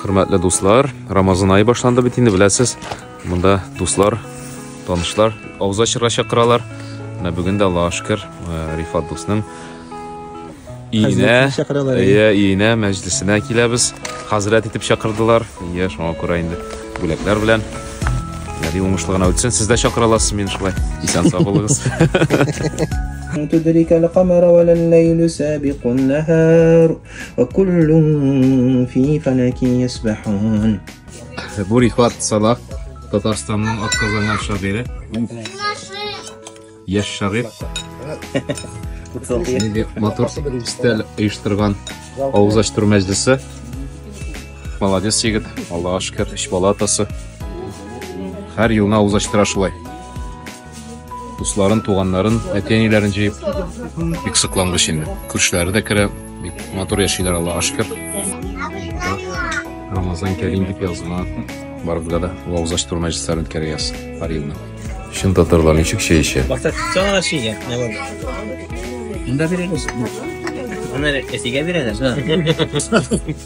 Хөрмәтле дуслар, Рамазан айы башланды бит инде, беләсез. Монда дуслар, танышлар авыз ачырга чакыралар. Менә бүген дә Аллаһ шөкер, э, Рифат дусның иенә, иә, иенә мәҗлисенә киләбез. Хәзрәт итеп чакырдылар. Иә, шуңа күрә инде бүләкләр белән Яди уңышлы гына үтсен. Сез дә чакыра аласыз мин шулай. Исән сау булыгыз. Тудырика лакамара валан лейлу сабиқун нахар. Бу рихват Салах, Татарстанның атказанган шагыйре. Яш шагыйр. Нинди матур өстәл оештырган авыз ачтыр мәҗлесе. Молодец егет, Аллага шөкер, үч бала атасы. Һәр елына авыз ачтыра шулай. дусларын, туганнарын, әти-әниләрен җыеп, бик соклангыч инде. Күршеләре дә керә, бик матур яшиләр Аллага шөкер. Рамазан Кәрим дип язма. Барыбызга да вагыз ачтыру мәҗлесләрен үткәрәбез һәр елны. Чын татарлар ничек чәй эчә? Бакта чана чия. Монда бирегез. Аны әтигә бирәләр.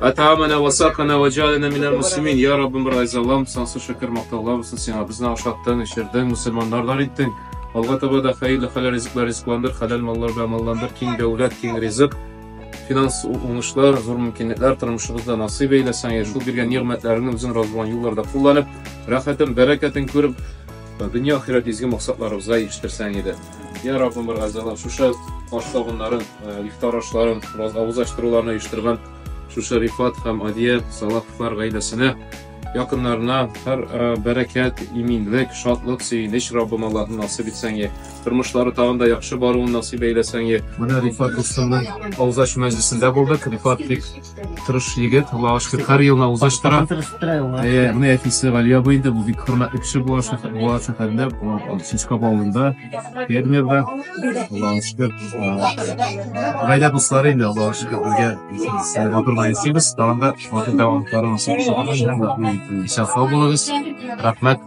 Атамана васакана ваджалина минар муслимин. Я Раббым райзалам, сансыз шөкер мактаулар булсын сиңа. Безне ашаттың, эчердең, мусульманнарлар иттең. Алга таба да хәерле хәләл ризыклар ризыкландыр, хәләл маллар белән малландыр, киң дәүләт, киң ризык, финанс уңышлар, зур мөмкинлекләр тормышыбызда насыйп әйләсәң, шул биргән нигъмәтләреңне үзең разы булган юлларда кулланып, рәхәтен, бәрәкәтен күреп, дөнья ахирәт изге максатларыбызга ирештерсәң иде. Я Раббым бер газалам, шушы аш сабыннарын, э, ифтар ашларын, авызлаштыруларны оештырган шушы Рифат һәм Адия Салаховлар гаиләсенә, якыннарына һәр э, бәрәкәт, иминлек, шатлык, сөенеч Раббым Аллаһым насыйп итсәң, тормышлары тагын да яхшы баруын насыйп әйләсәң. Менә Рифат Рустамның авызлашу мәҗлесендә булдык. Рифат бик Тырыш егет, Аллага шөкер, һәр елына узыш тора. Э, менә әтисе Галия абый инде, бу бик хөрмәтле кеше була шәһәр, була шәһәрендә, Сичкап авылында, фермерда. Аллага шөкер. Гаилә дуслары инде, Аллага шөкер, безгә матурлар ясыйбыз. Тагын да матур дәвамлыкларын саклап, исән сау булыгыз. Рәхмәт.